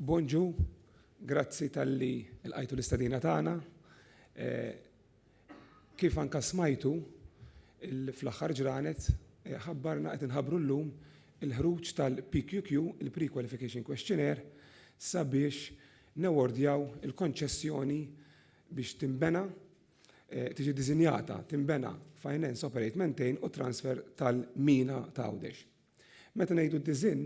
Bonġu, grazzi tal-li l-għajtu l-istadina tagħna. Eh, kif anka smajtu fl-aħħar ġranet eh, ħabbarna qed inħabru llum il-ħruġ tal-PQQ, il-Pre-Qualification Questionnaire, sabiex newordjaw il-konċessjoni biex timbena tiġi ddisinjata, tinbena, finance, operate, maintain u transfer tal-mina ta' Għawdex. Meta ngħidu d-disinn,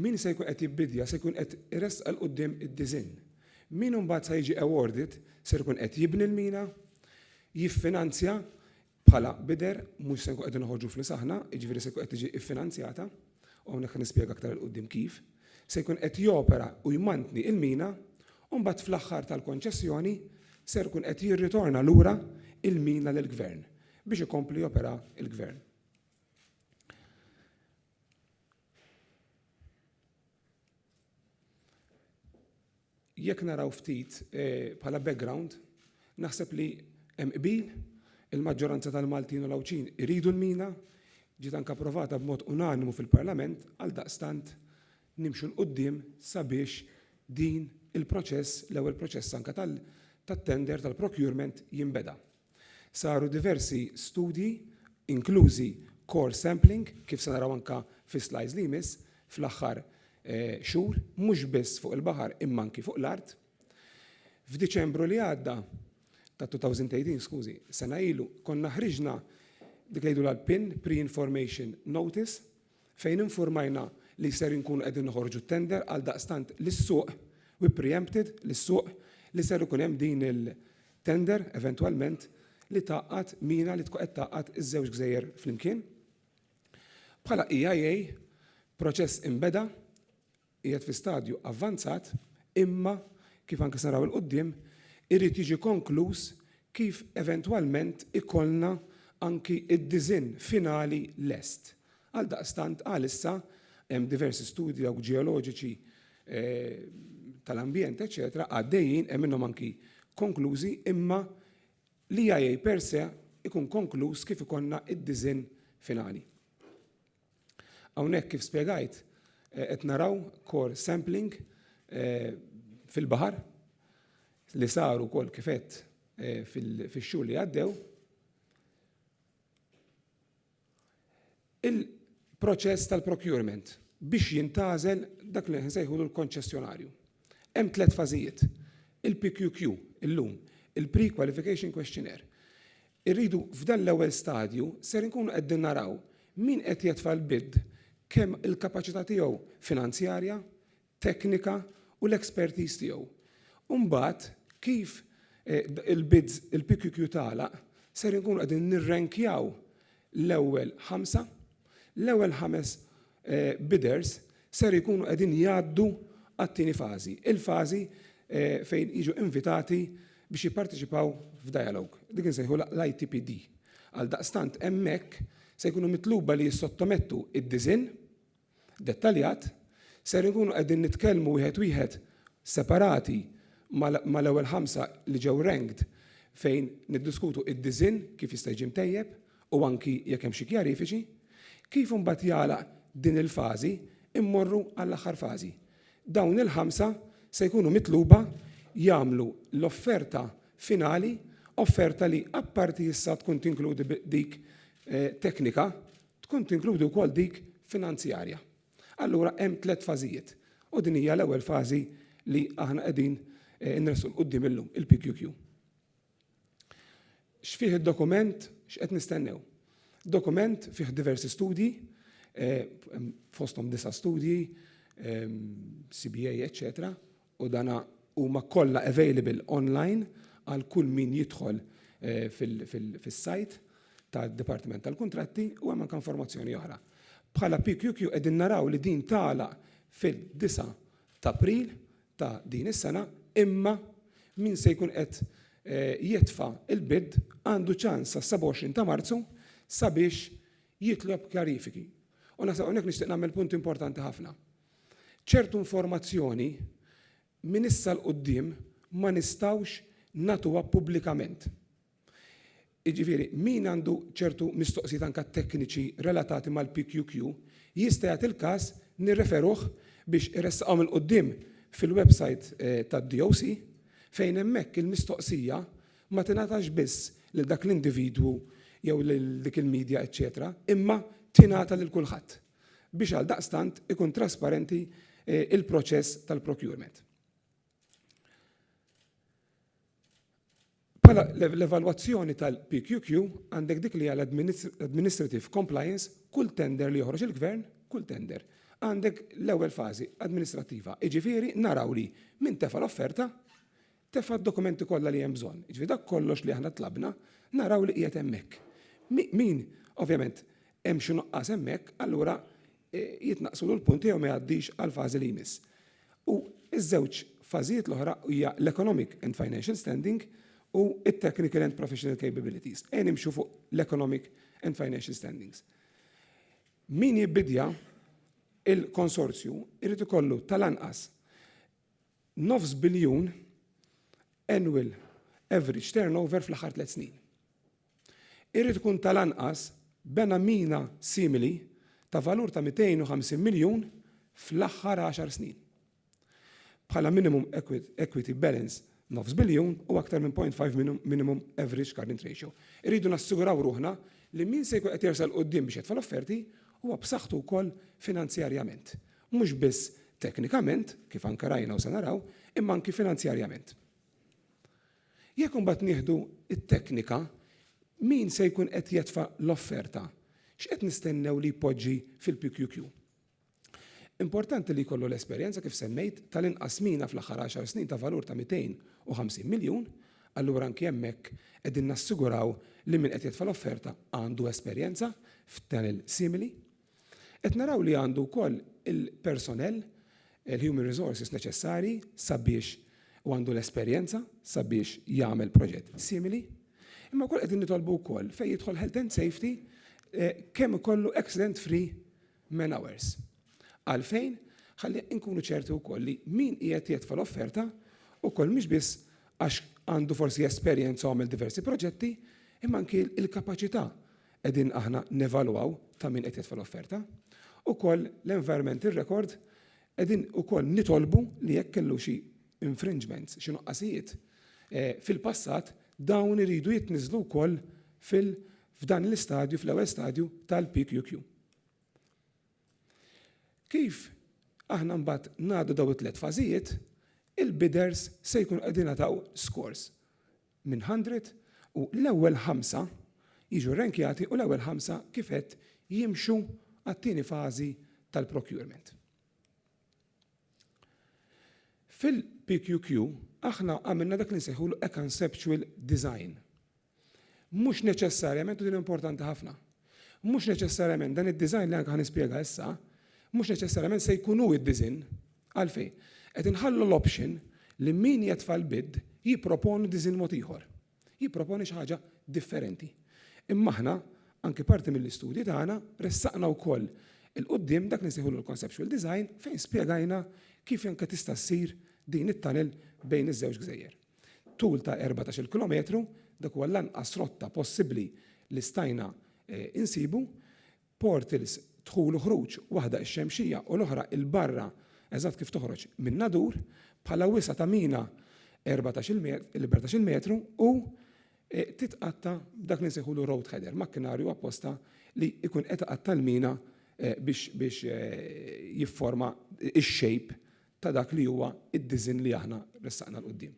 min se jkun qed jibbidja se jkun qed iressaq 'l quddiem id-disinn. Min imbagħad sa jiġi awarded ser ikun qed jibni l-mina, jiffinanzja bħala bidder, mhux se nkunu qegħdin noħorġu flus aħna, jiġifieri se jkun qed tiġi ffinanzjata, u hawnhekk ħa nispjega aktar 'il quddiem kif, se jkun qed jopera u jmantni l-mina u mbagħad fl-aħħar tal-konċessjoni ser ikun qed jirritorna lura il-mina lill-Gvern biex ikompli jopera l-Gvern. Jekk naraw ftit bħala background, naħseb li hemm qbil, il-maġġoranza tal-Maltin u l-Għawdxin iridu l-mina, ġiet anke approvata b'mod unanimu fil-Parlament, għaldaqstant nimxu 'l quddiem sabiex din il-proċess, l-ewwel proċess anke tal, tat-tender, tal-procurement jinbeda. Saru diversi studji, inklużi core sampling, kif se naraw anke fis-slides li jmiss, fl-aħħar xhur, mhux biss fuq il-baħar imma anke fuq l-art. F'Diċembru li għadda, ta' 2018 skużi, sena ilu, konna ħriġna dik li jgħidulha l-PIN, Pre-Information Notice, fejn infurmajna li ser inkunu qegħdin noħorġu t-tender għaldaqstant lis-suq, we pre-empted lis-suq li ser ikun hemm din il-tender eventwalment li tgħaqqad mina li tkun qed tgħaqqad iż-żewġ gżejjer flimkien. Bħala EIA, proċess inbeda, qiegħed fi stadju avvanzat imma, kif anke se naraw 'il quddiem, irid jiġi konkluż kif eventwalment ikollna anki d-disinn finali lest. Għaldaqstant għalissa hemm diversi studji dawk ġeoloġiċi tal-ambjent eċċetera għaddejjin, hemm minnhom anki konklużi imma l-EIA per se jkun konkluż kif ikollna d-disinn finali. Hawnhekk kif spjegajt qed naraw core sampling fil-baħar li saru kol kifet fil-xhur li għaddew. Il-proċess tal-procurement biex jintazel dak li nsejħu l-konċessjonarju. Hemm tliet fażijiet. Il-PQQ illum, il-Pre-Qualification Questionnaire, Irridu f'dan l-ewwel stadju ser inkunu qegħdin naraw min qed jetfa' l-bid kemm il-kapaċità tiegħu finanzjarja, teknika u l-expertise tiegħu. U mbagħad kif il-bids, il-PQQ tagħlaq ser inkunu qegħdin nirrenkjaw l-ewwel ħamsa, l-ewwel ħames bidders ser ikunu qegħdin jgħaddu għat-tieni fażi, il-fażi fejn jiġu invitati biex jipparteċipaw f'dialogue. Dik insejħu l-ITPD. Għaldaqstant hemmhekk se jkunu mitluba li jissottomettu id-disinn dettaljat, ser inkunu qegħdin nitkellmu wieħed wieħed separati mal-ewwel ħamsa li ġew ranked fejn niddiskutu id-disinn kif jista' jiġi mtejjeb u anki jekk hemm xi kjarifiċi, kif imbagħad jagħlaq din il-fażi immorru għall-aħħar fażi. Dawn il-ħamsa se jkunu mitluba jagħmlu l-offerta finali, offerta li apparti issa tkun tinkludi dik teknika, tkun tinkludi wkoll dik finanzjarja. Allura hemm tliet fażijiet u din hija l-ewwel fażi li aħna qegħdin inressqu 'l quddiem illum, il-PQQ. X'fih id-dokument? X'qed nistennew? Dokument fih diversi studji, eh, fosthom disa' studji, eh, CBA, eċċetera, u dana huma kollha available online għal kull min jidħol eh, fis-sajt tad-Dipartiment tal-Kuntratti u hemm anke informazzjoni oħra. Bħala PQQ qegħdin naraw li din tagħlaq fil-9 ta' April ta' din is-sena imma min se jkun qed jitfa' l-bid għandu ċans sas-27 ta' Marzu sabiex jitlob kjarifiki. U naħseb hawnhekk nixtieq nagħmel punt importanti ħafna. Ċertu informazzjoni minn issa 'l quddiem ma nistgħux nagħtuha pubblikament. Jiġifieri, min għandu ċertu mistoqsijiet anke tekniċi relatati mal-PQQ, jista' jagħti l-każ nirreferuh biex iressaqhom 'il quddiem fil-websajt tad-DOC fejn hemmhekk il-mistoqsija ma tingħatax biss lil dak l-individwu jew lil dik il-media eċċetera imma tingħata lil kulħadd biex għaldaqstant ikun trasparenti l-proċess tal-procurement. Bħala l-evalwazzjoni tal-PQQ għandek dik li hija l-administrative compliance, kull tender li joħroġ il-Gvern, kull tender, għandek l-ewwel fażi administrattiva, jiġifieri naraw li min tefa' l-offerta tefa' d-dokumenti kollha li hemm bżonn. Jiġifieri dak kollox li aħna tlabna naraw li qiegħed hemmhekk. Min, ovvjament, hemm xi nuqqas hemmhekk, allura e, jitnaqqsu u l-punt tiegħu ma jgħaddix għal fażi li jmiss. U iż-żewġ fażijiet l-oħra hija l-economic and financial standing u it-technical and professional capabilities. E nimxu fuq l-economic and financial standings. Min jibbidja il-konsorzju irrid ikollu tal-anqas nofs biljun annual average turnover fl-aħħar tliet snin. irid ikun tal-anqas bena mina simili ta' valur ta' 250 miljun fl-aħħar għaxar snin. Bħala minimum equity balance nofs biljun u aktar minn 0.5 minimum average current ratio. Irridu nassiguraw ruħna li min se jkun qed jersa' 'l quddiem biex jitfa' l-offerti huwa b'saħħtu wkoll finanzjarjament, mhux biss teknikament, kif anke rajna u se naraw, imma anki finanzjarjament. Jekk imbagħad nieħdu t-teknika, min se jkun qed jetfa' l-offerta? X'qed nistennew li jpoġġi fil-PQQ? Importanti li jkollu l-esperjenza, kif semmejt, tal-inqas mina fl-aħħar għaxar snin ta' valur ta' 250 miljun, allura anki hemmhekk qegħdin nassiguraw li min qed jetfa' l-offerta għandu esperjenza f'tunnel simili. Qed naraw li għandu wkoll il-personell, il-human resources neċessarji sabiex u għandu l-esperjenza sabiex jagħmel proġett simili. Imma wkoll qegħdin nitolbu wkoll fejn jidħol health and safety eh, kemm ikollu accident free man hours. Għalfejn ħalli nkunu ċerti wkoll li min qiegħed jitfa' l-offerta ukoll mhux biss għax għandu forsi esperjenza għamel diversi proġetti, imma anki l-kapaċità qegħdin aħna nevalwaw ta' min qed jitfa' l-offerta, ukoll l-environmental record qegħdin ukoll nitolbu li jekk kellu xi infringements, xi nuqqasijiet fil-passat, dawn iridu jitniżżlu wkoll fil f'dan l-istadju, fl-ewwel stadju tal-PQQ. Kif aħna mbagħad ngħaddu dawn it-tliet fażijiet, il-bidders se jkunu qegħdin jingħataw scores. minn hundred u l-ewwel ħamsa jiġu rrankjati u l-ewwel ħamsa kif għedt jimxu għat-tieni fażi tal-procurement. Fil-PQQ aħna għamilna dak li nsejħulu a conceptual design. Mhux neċessarjament, u din importanti ħafna, mhux neċessarjament dan id-design li anke ħa nispjega issa, mhux neċessarjament se jkun hu d-disinn Għalfejn? Qed inħallu l-option li min jetfa' l-bid jipproponi diżinn mod ieħor. Jipproponi xi ħaġa differenti. Imma aħna, anki parti mill-istudji tagħna, ressaqna wkoll 'il quddiem dak li nsejħulu l-conceptual design fejn spjegajna kif anke tista' ssir din it-tunnel bejn iż-żewġ gżejjer. Tul ta' erbatax-il kilometru, dak huwa l-anqas rotta possibbli li stajna insibu, portals, dħul u ħruġ, waħda ix-Xemxija u l-oħra 'il barra eżatt kif toħroġ min-Nadur, bħala wisa' ta' mina 14 metru u titqatta' b'dak li nsejħulu road header, makkinarju apposta li jkun qed iqatta' l-mina biex jifforma x-shape ta' dak li huwa d-diżinn li aħna ressaqna 'l quddiem.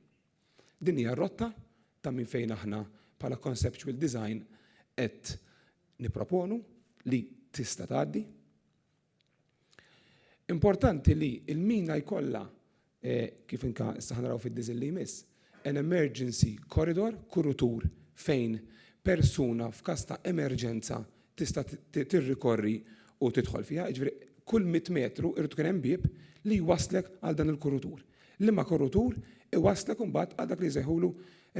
Din hija r-rotta ta' minn fejn aħna bħala Conceptual Design qed nipproponu li tista' tgħaddi. Importanti li l-mina jkollha, kif inka issa ħanaraw fid-disinn li jmiss, an emergency corridor, kurutur fejn persuna f'każ ta' emerġenza tista' tirrikorri u tidħol fiha, jiġifieri kull mitt metru jrid ikun hemm bieb li jwasslek għal dan il-kurutur. Liema kurutur iwasslek imbagħad għal dak li jsejħulu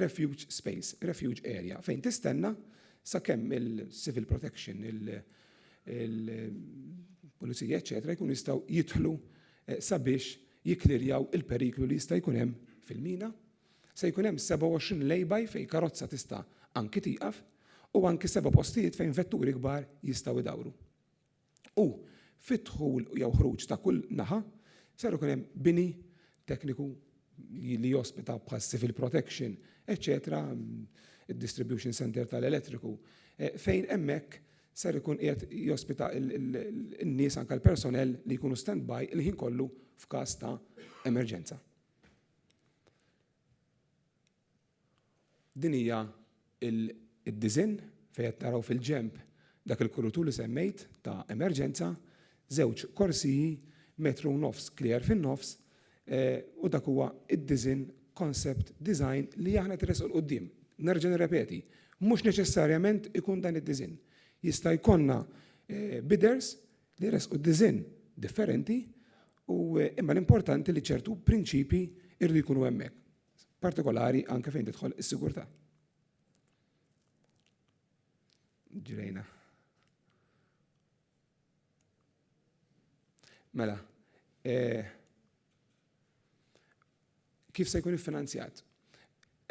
refuge space, refuge area, fejn tistenna sakemm il-civil protection, il-pulizija, eċċetera, jkunu jistgħu jidħlu sabiex jikklirjaw il-periklu li jista' jkun hemm fil-mina. Se jkun hemm 27 lay-by fejn karozza tista' anki tieqaf u anki seba' postijiet fejn vetturi kbar jistgħu jdawru. U fid-dħul jew ħruġ ta' kull naħa ser ikun hemm bini tekniku li jospita bħal civil protection eċċetera id-distribution centre tal-elettriku fejn hemmhekk ser ikun qiegħed jospita n-nies anke l-personnel li jkunu standby il-ħin kollu f'każ ta' emerġenza. Din hija d-disinn fejn qed naraw fil-ġenb dak il-kurutur li semmejt ta' emerġenza, żewġ korsiji, metru u nofs clear fin-nofs, u dak huwa d-disinn, concept design, li aħna qed iressqu 'l quddiem. Nerġa' nirrepeti, mhux neċessarjament ikun dan id-disinn. Jista' jkollna bidders li jressqu diżinn differenti u imma l-importanti li ċertu prinċipji irridu jkunu hemmhekk, partikolari anke fejn tidħol is-sigurtà. Ġrejna. Mela, eh, Kif se jkun iffinanzjat?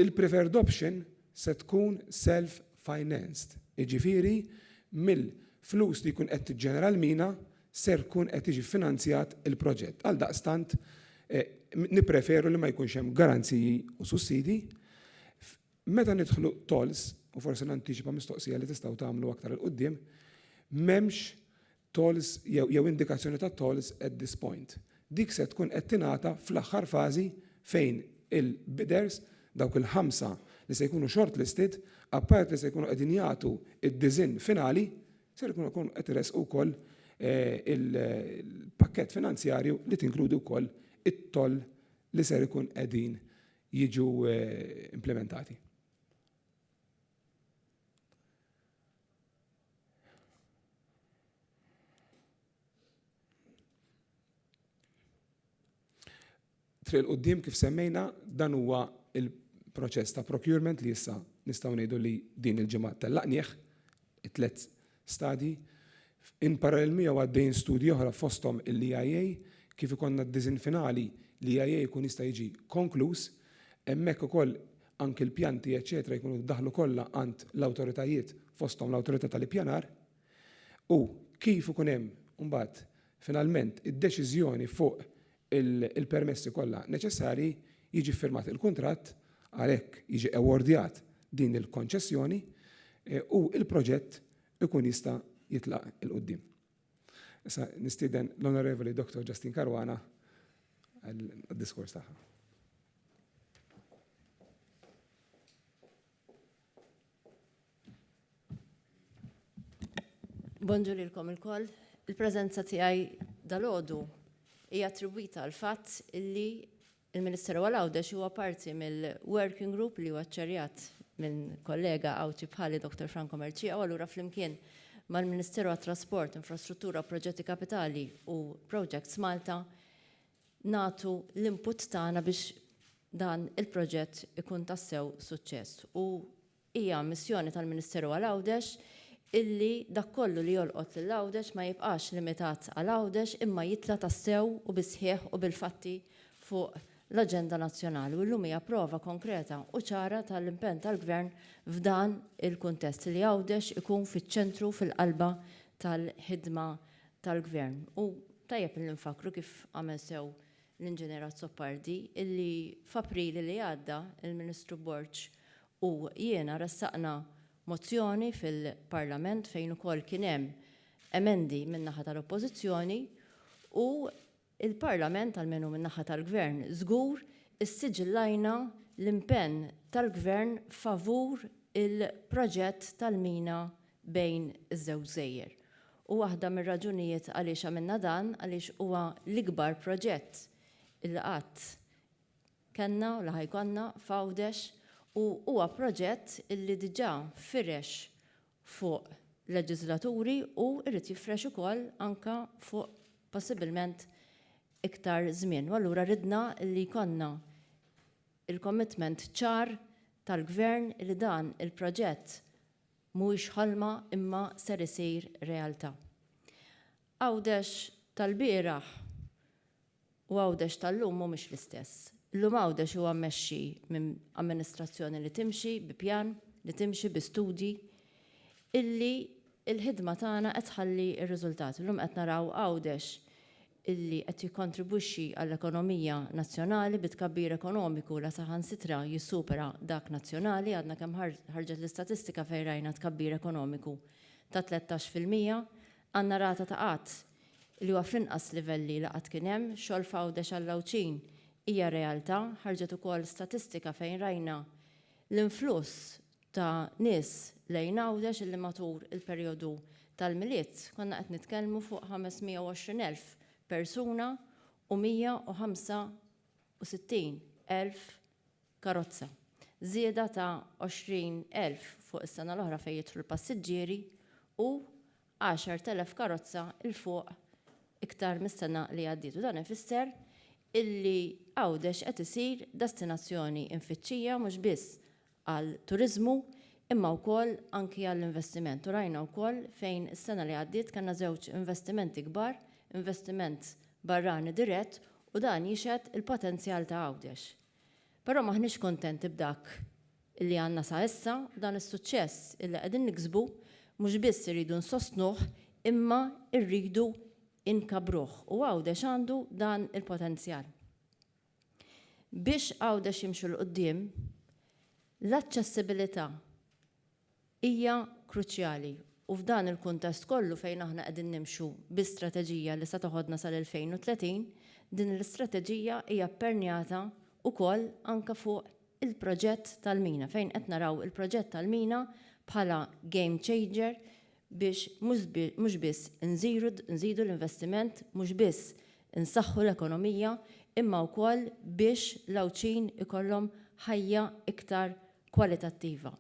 Il-preferred option se tkun self-financed, jiġifieri mill-flus li jkun qed tiġġenera l-mina ser jkun qed jiġi ffinanzjat il-proġett. Għaldaqstant, nippreferu li ma jkunx hemm garanziji u sussidji. Meta nidħlu tolls, u forsi nantiċipa mistoqsija li tistgħu tagħmlu aktar 'il quddiem, m'hemmx tolls jew indikazzjoni ta' tolls at this point. Dik se tkun qed tingħata fl-aħħar fażi fejn il-bidders, dawk il-ħamsa li se jkunu shortlisted, apart li se jkunu qegħdin jagħtu d-disinn finali, ser ikunu jkunu qed iressqu wkoll il-pakkett finanzjarju li tinkludi wkoll it-toll li ser ikun qegħdin jiġu implimentati. Triq il-qoddim kif semmejna dan huwa il-proċess ta' procurement li issa nistgħu ngħidu li din il-ġimgħa tellaqnieh it-tliet stadji. In parallel miegħu għaddejjin studji oħra fosthom il-EIA kif ikollna d-disinn finali li EIA jkun jista' jiġi konkluż. Hemmhekk ukoll anki l-pjanti eċċetera jkunu jiddaħħlu kollha għand l-awtoritajiet fosthom l-awtorità tal-ippjanar u kif ikun hemm imbagħad finalment id-deċiżjoni fuq il-permessi kollha neċessarji jiġi ffirmat il-kuntratt għalhekk jiġi awardjat din il-konċessjoni u l-proġett ikun jista' jitlaq 'il quddiem. Issa nistieden l-Onorevoli Dottor Justine Caruana għad-diskors tagħha. Bonġu lilkom il-koll. Il-prezenza tiegħi dal-ħodu hija attribwita għal fatt illi il-Ministeru għal Għawdex huwa parti mill-working group li huwa ċċarjat minn kollega Għawdxi bħali Dr. Franco Merċija u allura flimkien mal-Ministeru għat-Trasport, Infrastruttura, Proġetti Kapitali u Projects Malta nagħtu l-input tagħna biex dan il-proġett ikun tassew suċċess u hija missjoni tal-Ministeru għal Għawdex illi dak kollu li jolqot lil Għawdex ma jibqax limitat għal Għawdex imma jitla' tassew u bis-sħiħ u bil-fatti fuq l-aġenda nazzjonali u llum hija prova konkreta u ċara tal-impenn tal-Gvern f'dan il-kuntest li Għawdex ikun fiċ-ċentru u fil-qalba tal-ħidma tal-Gvern. U tajjeb illi nfakkru kif għamel sew l-Inġinier Azzopardi illi f'April li għadda il-Ministru Borg u jiena ressaqna mozzjoni fil-Parlament fejn ukoll kien hemm emendi min-naħa tal-Oppożizzjoni u Il-Parlament, almenu min-naħa tal-Gvern, żgur issiġillajna l-impenn tal-Gvern favur il-proġett tal-mina bejn iż-żewġ gżejjer. U waħda mir-raġunijiet għaliex għamilna dan għaliex huwa l-ikbar proġett li qatt kellna u li ħa jkollna f'Għawdex u huwa proġett li diġà firex fuq leġiżlaturi u jrid jifrex ukoll anke fuq possibbilment iktar żmien. U allura ridna li jkollna l-commitment ċar tal-Gvern li dan il-proġett mhuwiex ħolma imma ser isir realtà. Għawdex tal-bieraħ u Għawdex tal-lum mhumiex l-istess. Illum Għawdex huwa mmexxi minn amministrazzjoni li timxi bi pjan, li timxi bi studji, illi l-ħidma tagħna qed tħalli r-riżultat. Illum qed naraw Għawdex illi qed jikkontribwixxi għall-ekonomija nazzjonali bi tkabbir ekonomiku la saħansitra jissupera dak nazzjonali, għadna kemm ħarġet l-istatistika fejn rajna tkabbir ekonomiku ta' tlettax fil-mija, għandna rata ta' qgħad li huwa fl-inqas livelli li qatt kien hemm, xogħol f'Għawdex għall-Għawdxin hija realtà, ħarġet ukoll statistika fejn rajna l-influss ta' nies lejn Għawdex illi matul il-perjodu tal-Milied konna qed nitkellmu fuq 520 elf persuna u 165 elf karozza, żieda ta' 20 elf fuq is-sena l-oħra fejn jidħlu l-passiġġieri u 10,000 karozza 'l fuq iktar mis-sena li għaddiet u dan ifisser illi Għawdex qed isir destinazzjoni imfittxija mhux biss għall-turiżmu imma wkoll anki għall-investiment u rajna wkoll fejn is-sena li għaddiet kellna żewġ investimenti kbar, investiment barrani dirett u dan jixhed il-potenzjal ta' Għawdex. Però m'aħniex kuntenti b'dak li għandna sa issa, dan is-suċċess li qegħdin niksbu mhux biss irridu nsostnuh imma rridu nkabbruh u Għawdex għandu dan il-potenzjal. Biex Għawdex jimxu 'l quddiem, l-aċċessibilità hija kruċjali u f'dan il-kuntest kollu fejn aħna qegħdin nimxu bi strateġija li se toħodna sal-2030, din l-istrateġija hija ppernjata wkoll anke fuq il-proġett tal-mina fejn qed naraw il-proġett tal-mina bħala game changer biex mhux biss nżidu l-investiment, mhux biss insaħħu l-ekonomija imma wkoll biex l-Għawdxin ikollhom ħajja iktar kwalitattiva.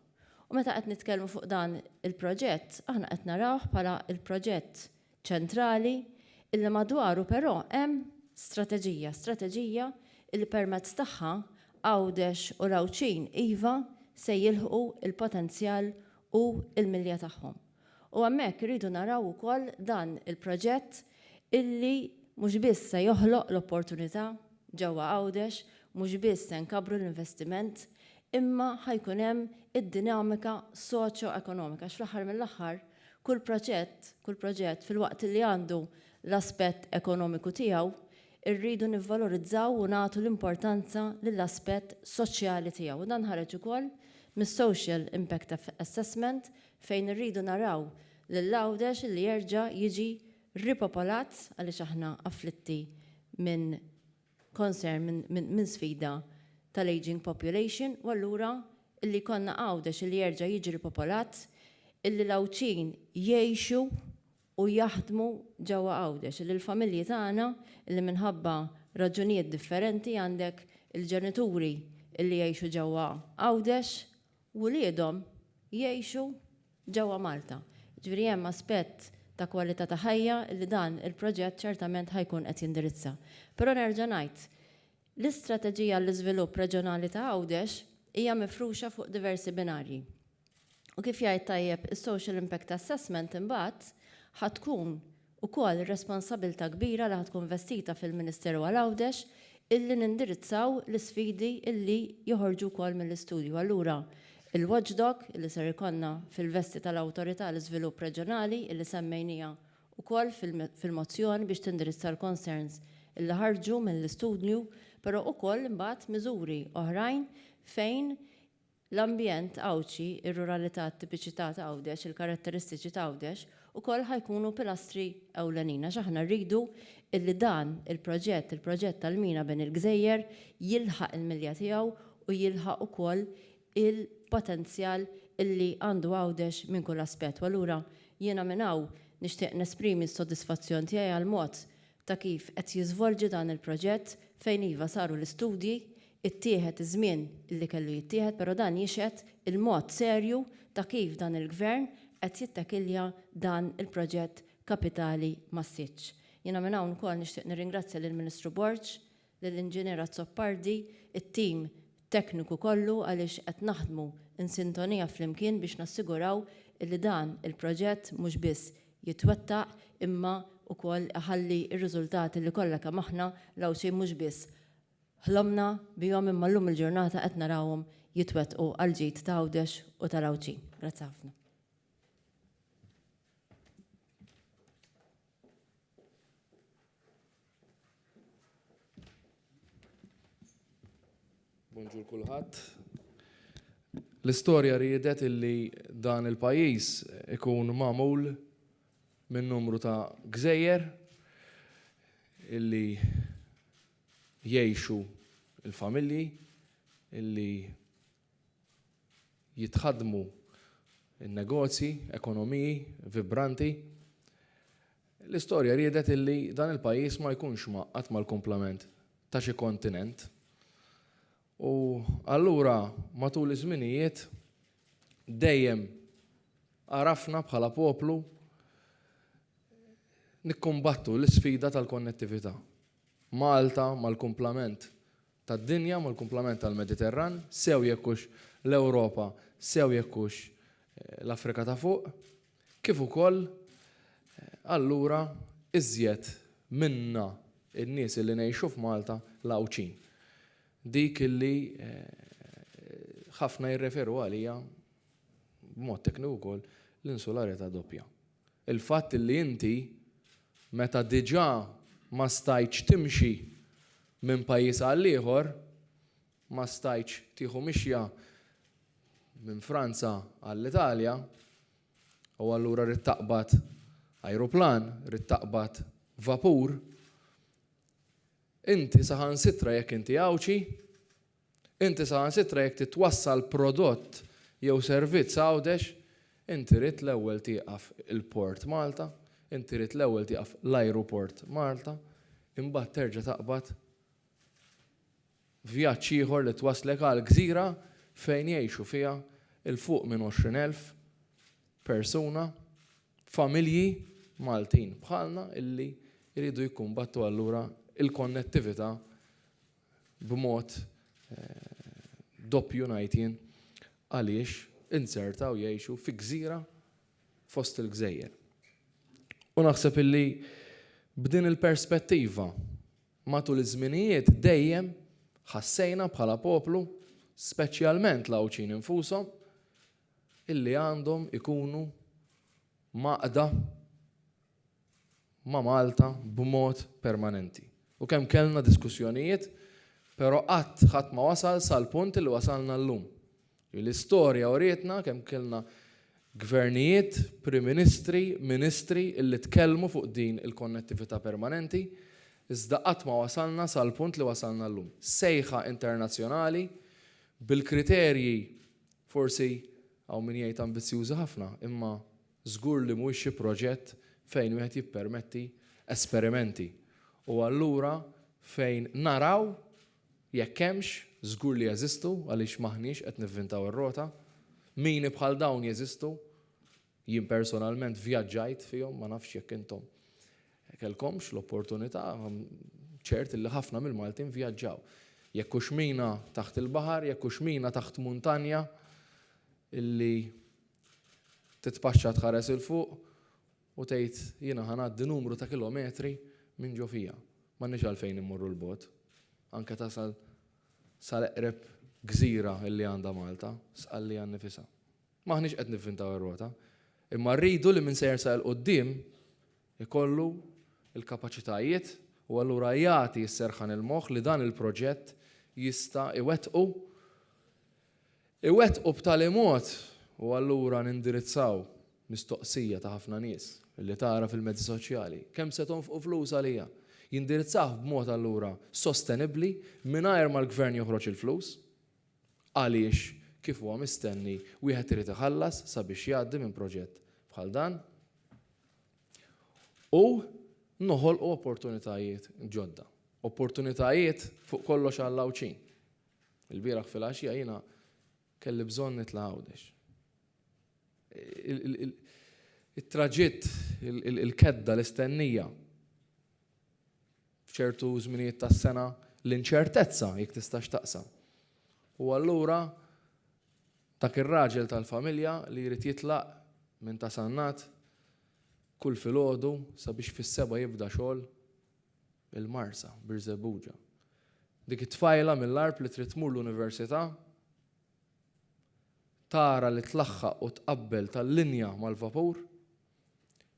U meta qed nitkellmu fuq dan il-proġett, aħna qed narawh bħala l-proġett ċentrali illi madwaru però hemm strateġija, strateġija illi permezz tagħha Għawdex u l-Għawdxin iva se jilħqu l-potenzjal u l-milja tagħhom. U hemmhekk irridu naraw ukoll dan il-proġett illi mhux biss se joħloq l-opportunità ġewwa Għawdex, mhux biss se nkabbru l-investiment, imma ħa jkun hemm id-dinamika soċjoekonomika għax fl-aħħar mill-aħħar kull proġett, kull proġett filwaqt illi għandu l-aspett ekonomiku tiegħu, irridu nivvalorizzaw u nagħtu l-importanza lill-aspett soċjali tiegħu. U dan ħareġ ukoll mis-Social Impact Assessment fejn irridu naraw lil Għawdex li jerġa' jiġi ripopolat għaliex aħna afflitti minn concern, minn sfida tal-ageing population u allura li jkollna Għawdex li jerġa' jiġi ripopolat, li l-Għawdxin jgħixu u jaħdmu ġewwa Għawdex, li l-familji tagħna li minħabba raġunijiet differenti għandek il-ġenituri li jgħixu ġewwa Għawdex wliedhom jgħixu ġewwa Malta. Jiġifieri hemm aspett ta' kwalità ta' ħajja li dan il-proġett ċertament ħa jkun qed jindirizza. Però nerġa' ngħid, l-istrateġija għall-iżvilupp reġjonali ta' Għawdex hija mifruxa fuq diversi binarji. U kif jgħid tajjeb is-Social Impact Assessment imbagħad ħa tkun ukoll ir-responsabilità kbira li ħa tkun vestita fil-Ministeru għal Għawdex illi nindirizzaw l-isfidi illi joħorġu wkoll mill-istudju. Allura il-watchdog illi ser ikollna fil-vesti tal-Awtorità għal Iżvilupp Reġjonali illi semmejniha ukoll fil-mozzjoni biex tindirizza l-concerns illi ħarġu mill-istudju, però ukoll imbagħad miżuri oħrajn fejn L-ambjent Għawdxi, ir-ruralità, it-tipiċità ta' Għawdex, il-karatteristiċi ta' Għawdex ukoll ħa jkunu pilastri ewlenin għax aħna rridu illi dan il-proġett, il-proġett tal-mina bejn il-gżejjer jilħaq il-milja tiegħu u jilħaq ukoll il-potenzjal illi għandu Għawdex minn kull aspett. U allura jiena minn hawn nixtieq nesprimi s-sodisfazzjon tiegħi għall-mod ta' kif qed jiżvolġi dan il-proġett fejn iva saru l-istudji, ittieħed iż-żmien li kellu jittieħed però dan jixhed il-mod serju ta' kif dan il-Gvern qed jittakilja dan il-proġett kapitali massiċċ. Jiena minn hawn ukoll nixtieq nirringrazzja lill-Ministru Borg lill-Inġinier Azzopardi, it-tim tekniku kollu għaliex qed naħdmu in sintonija flimkien biex nassiguraw illi dan il-proġett mhux biss jitwettaq imma ukoll iħalli r-riżultati li kollha kemm aħna l-Għawdxin mhux biss ħlomna bihom imma llum il-ġurnata qed narawhom jitwettqu għall-ġid ta' Għawdex u tal-Għawdxin. Grazzi ħafna. Bonġur kulħadd. L-istorja riedet illi dan il-pajjiż ikun magħmul minn numru ta' gżejjer illi jgħixu il-familji illi jitħaddmu n-negozji, ekonomiji vibranti. L-istorja riedet illi dan il-pajjiż ma jkunx mgħaqqad mal-kumplament ta' xi kontinent. U allura matul iż-żminijiet dejjem għarafna bħala poplu nikkumbattu l-isfida tal-konnettività. Malta mal-kumplament tad-dinja mal-kumplament tal-Mediterran, sew jekk hux l-Ewropa sew jekk hux l-Afrika ta' Fuq, kif ukoll allura iżjed minna n-nies illi ngħixu f'Malta l-Għawdxin. Dik illi ħafna jirreferu għaliha b'mod tekniku wkoll l-insularità doppja. il-fatt li inti meta diġà ma stajtx timxi minn pajjiż għal ieħor, ma stajtx tieħu mixja minn Franza għall-Italja u allura ridt taqbad ajruplan, ridt taqbad vapur, inti saħansitra jekk inti Għawdxi, Inti saħansitra jekk titwassal prodott jew servizz Għawdex, inti rrid l-ewwel tieqaf il-port Malta, inti rrid l-ewwel tieqaf l-ajruport Malta, imbagħad terġa' taqbad vjaġġ ieħor li twasslek għal gżira fejn jgħixu fiha 'l fuq minn 20 elf persuna, familji Maltin bħalna illi jridu jikkumbattu allura l-konnettività b'mod doppju ngħid jien għaliex inzertaw jgħixu fi gżira fost il-gżejjer. U naħseb illi b'din il-perspettiva matul iż-żminijiet dejjem ħassejna bħala poplu, speċjalment l-Għawdxin infushom, illi għandhom ikunu mgħaqqda ma' Malta b'mod permanenti u kemm kellna diskussjonijiet pero' qatt ħadd ma wasal sal-punt li wasalna llum. L-istorja urietna kemm kellna Gvernijiet, Prim Ministri, Ministri illi tkellmu fuq din il-konnettivita' permanenti iżda qatt ma wasalna sal-punt li wasalna llum. Sejħa internazzjonali bil-kriterji forsi hawn min jgħid ambizzjużi ħafna imma Żgur li mhuwiex xi proġett fejn wieħed jippermetti esperimenti. U allura fejn naraw jekk hemmx, żgur li jeżistu għaliex m'aħniex qed nivvintaw ir-rota, mini bħal dawn jeżistu, jien personalment vjaġġajt fihom, ma nafx jekk intom kellkomx l-opportunità, ċert li ħafna mill-Maltin vjaġġaw. Jekk hux mina taħt il-baħar, jekk hux mina taħt muntanja illi Titpaxxa tħares 'il fuq u tgħid, 'Jiena ħa ngħaddi numru ta' kilometri minn ġo fija. M'għandniex għalfejn immorru 'l bogħod. Anke tasal sal-eqreb gżira li għandha Malta, Sqallija nnifisha. M'aħniex qed nivvintaw ir-rota, imma rridu li min se jersaq 'il quddiem ikollu l-kapaċitajiet u allura jagħti s-serħan il-moħħ li dan il-proġett jista' iwettqu iwettqu b'tali mod u allura nindirizzaw mistoqsija ta' ħafna nies li tara fil-mezzi soċjali, kemm se tonfqu flus għalija? Jindirizzah b'mod allura sostenibbli mingħajr ma l-Gvern joħroġ il-flus għaliex kif huwa mistenni wieħed irid iħallas sabiex jgħaddi minn proġett bħal dan u noħolqu opportunitajiet ġodda. Opportunitajiet fuq kollox għall-Għawdxin. Il-bieraħ filgħaxija jiena kelli bżonn nitla' Għawdex. It-traġitt, il-kedda, l-istennija, f'ċertu żminijiet tas-sena l-inċertezza jekk tistax taqsam. U allura dak ir-raġel tal-familja li jrid jitlaq minn ta' Sannat kull filgħodu sabiex fis-seba' jibda xogħol il-Marsa, Birżebbuġa. Dik it-tfajla mill-Għarb li trid tmur l-università tara li tlaħħaq u tqabbel tal-linja mal-vapur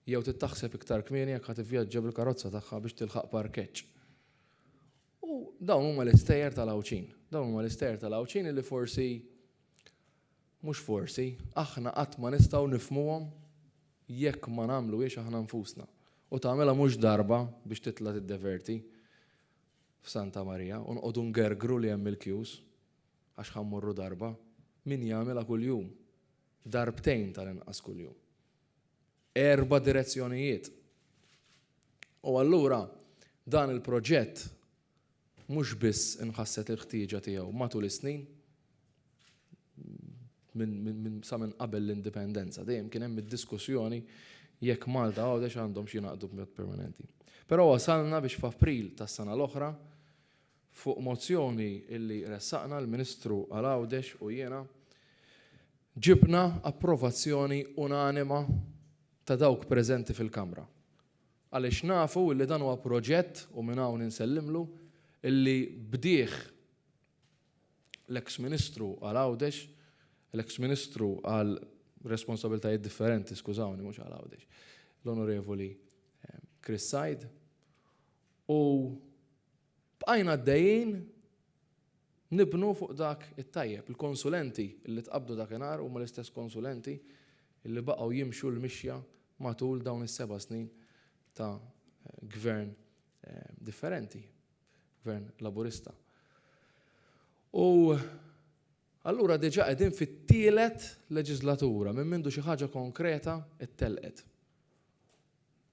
jew trid taħseb iktar kmieni jekk ħa tivvjaġġa bil-karozza tagħha biex tilħaq parkeġġ. U dawn huma l-istejjer tal-Għawdxin. Dawn huma l-istejjer tal-Għawdxin li forsi Mhux forsi, aħna qatt ma nistgħu nifhmuhom jekk ma nagħmluhiex aħna nfusna. U tagħmilha mhux darba biex titla' tiddeverti f'Santa Marija u nqogħdu ngergru li hemm il-kjus għax ħa mmorru darba. Min jagħmilha kuljum? Darbtejn tal-inqas kuljum. Erba' direzzjonijiet. U allura dan il-proġett mhux biss inħasset il-ħtieġa tiegħu matul is-snin, sa minn qabel l-Indipendenza, dejjem kien hemm id-diskussjoni jekk Malta u Għawdex għandhomx jingħaqdu b'mod permanenti. Però wasalna biex f'April tas-sena l-oħra, fuq mozzjoni li ressaqna l-Ministru għal Għawdex u jiena, ġibna approvazzjoni unanima ta' dawk preżenti fil-Kamra, għaliex nafu illi dan huwa proġett, u minn hawn insellimlu, illi bdieh l-eks Ministru għal Għawdex, l-eks Ministru għal responsabilitajiet differenti, skużawni, mhux għal Għawdex, l-Onorevoli Chris Said, u Bqajna għaddejjin nibnu fuq dak it-tajjeb. Il-konsulenti li tqabbdu dakinhar huma l-istess konsulenti li baqgħu jimxu l-mixja matul dawn is-seba' snin ta' Gvern differenti, Gvern Laburista. U allura diġà qegħdin fit-tielet leġiżlatura minn mindu xi ħaġa konkreta ttellqet.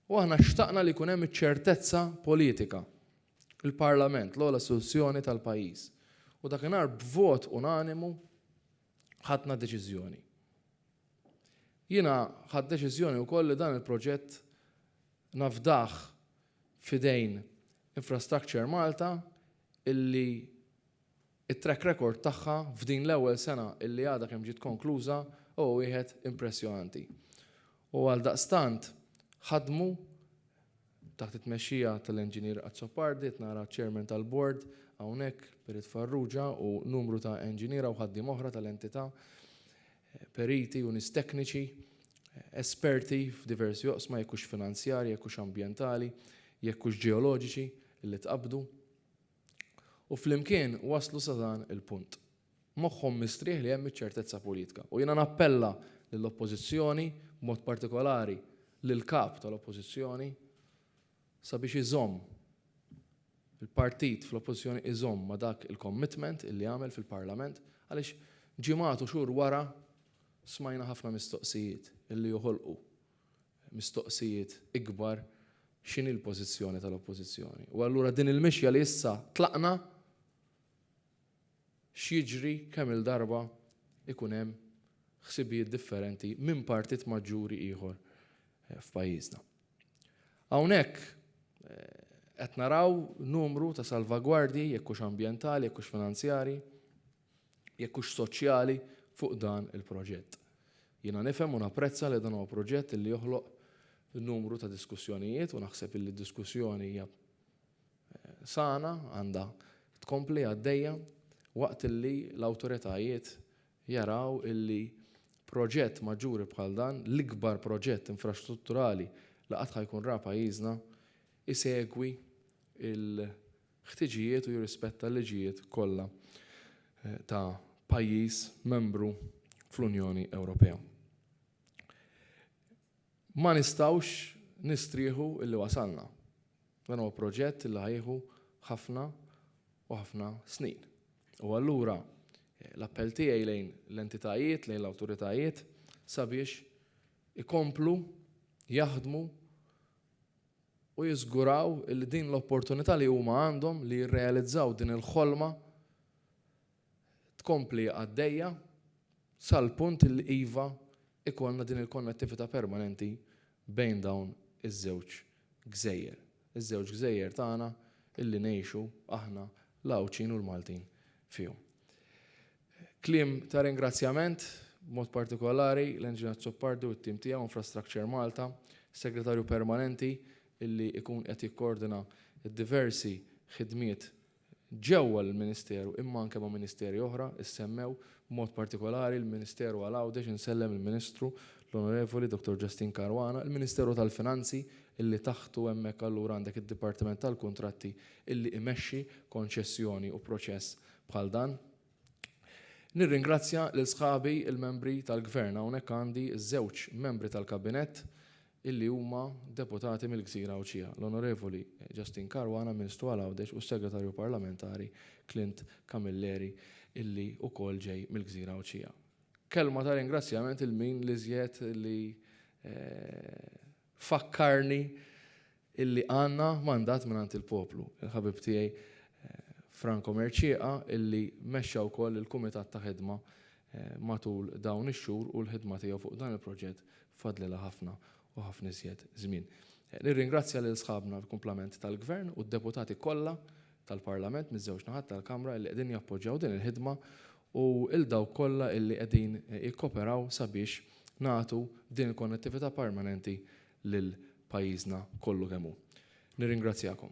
U aħna xtaqna li jkun hemm iċ-ċertezza politika. Il-Parlament, l-ogħla istituzzjoni tal-pajjiż. U dakinhar b'vot unanimu ħadna deċiżjoni. Jiena ħadd deċiżjoni wkoll li dan il-proġett nafdah f'idejn Infrastructure Malta illi It-track record tagħha f'din l-ewwel sena illi għadha kemm ġiet konkluża huwa wieħed impressjonanti u għaldaqstant ħadmu taħt it-tmexxija tal-Engineer Azzopardi, qed nara ċ-Chairman tal-Bord hawnhekk, Perit Farrugia u numru ta' enġiniera u ħaddiem oħra tal-entità, periti u nies tekniċi, esperti f'diversi oqsma jekk hux finanzjarji, jekk hux ambjentali, jekk hux ġeoloġiċi illi tqabbdu. U flimkien waslu sa dan il-punt. Moħħhom mistrieħ li hemm iċ-ċertezza politika. U jiena nappella lill-Oppożizzjoni, b'mod partikolari lill-Kap tal-Oppożizzjoni, sabiex iżomm, il-partit fl-Oppożizzjoni iżomm ma' dak il-commitment illi għamel fil-Parlament, għaliex ġimgħat u xhur wara smajna ħafna mistoqsijiet illi joħolqu mistoqsijiet ikbar, x'inhi l-pożizzjoni tal-Oppożizzjoni? U allura din il-mixja li issa tlaqna, x'jiġri kemm-il darba jkun hemm ħsibijiet differenti minn partit maġġuri ieħor f'pajjiżna? Hawnhekk qed naraw numru ta' salvagwardji, jekk hux ambjentali, jekk hux finanzjarji, jekk hux soċjali fuq dan il-proġett. Jiena nifhem u napprezza li dan huwa proġett illi joħloq numru ta' diskussjonijiet u naħseb illi d-diskussjoni hija sana, għandha tkompli għaddejja waqt illi l-awtoritajiet jaraw illi proġett maġġuri bħal dan, l-ikbar proġett infrastrutturali li qatt ħa jkun ra pajjiżna, isegwi ħtiġijiet u jirrispetta l-liġijiet kollha ta' pajjiż membru fl-Unjoni Ewropea. Ma nistgħux nistrieħu illi wasalna. Dan huwa proġett li ħajħu ħafna u ħafna snin. U allura l-appell tiegħi lejn l-entitajiet, lejn l-awtoritajiet sabiex ikomplu jaħdmu u jiżguraw li din l-opportunità li huma għandhom li jirrealizzaw din il-ħolma tkompli għaddejja sal-punt li iva jkollna din il-konnettività permanenti bejn dawn iż-żewġ gżejjer, iż-żewġ gżejjer tagħna li ngħixu aħna l-Għawdxin u l-Maltin fihom. Kliem ta' ringrazzjament, b'mod partikolari, l-Enġin Azzopardi u t-tim tiegħu Infrastructure Malta, Segretarju Permanenti illi ikun qed jikkoordina d-diversi ħidmiet ġewwa l-Ministeru imma anke ma' Ministeri oħra, issemmew, b'mod partikolari l-Ministeru għal Għawdex, insellem il-Ministru, l-Onorevoli Dottor Justin Caruana, il-Ministeru tal-Finanzi illi taħtu hemmhekk allura għandek id-Dipartiment tal-Kuntratti illi imexxi konċessjoni u proċess bħal dan. Nirringrazzja lil sħabi l-membri tal-Gvern, hawnhekk għandi ż-żewġ membri tal-Kabinett illi huma deputati mill-Gżira Għawdxija, l-Onorevoli Justin Caruana, Ministru għal Għawdex u s-Segretarju Parlamentari Clint Camilleri illi wkoll ġej mill-Gżira Għawdxija. Kelma ta' ringrazzjament lil min l-iżjed li Fakkarni illi għandna mandat mingħand il-poplu. Il-ħabib tiegħi Franco Mercieca illi mexxa wkoll il-kumitat ta' ħidma matul dawn ix-xhur u l-ħidma tiegħu fuq dan il-proġett fadlilha ħafna u ħafna iżjed żmien. Nirringrazzja lil sħabna l-kumplament tal-Gvern u d-deputati kollha tal-Parlament miż-żewġ naħat tal-Kamra illi qegħdin jappoġġjaw din il-ħidma u 'l dawk kollha li qegħdin jikkoperaw sabiex nagħtu din il-konnettività permanenti lil pajjiżna kollu kemm hu. Nirringrazzjakom.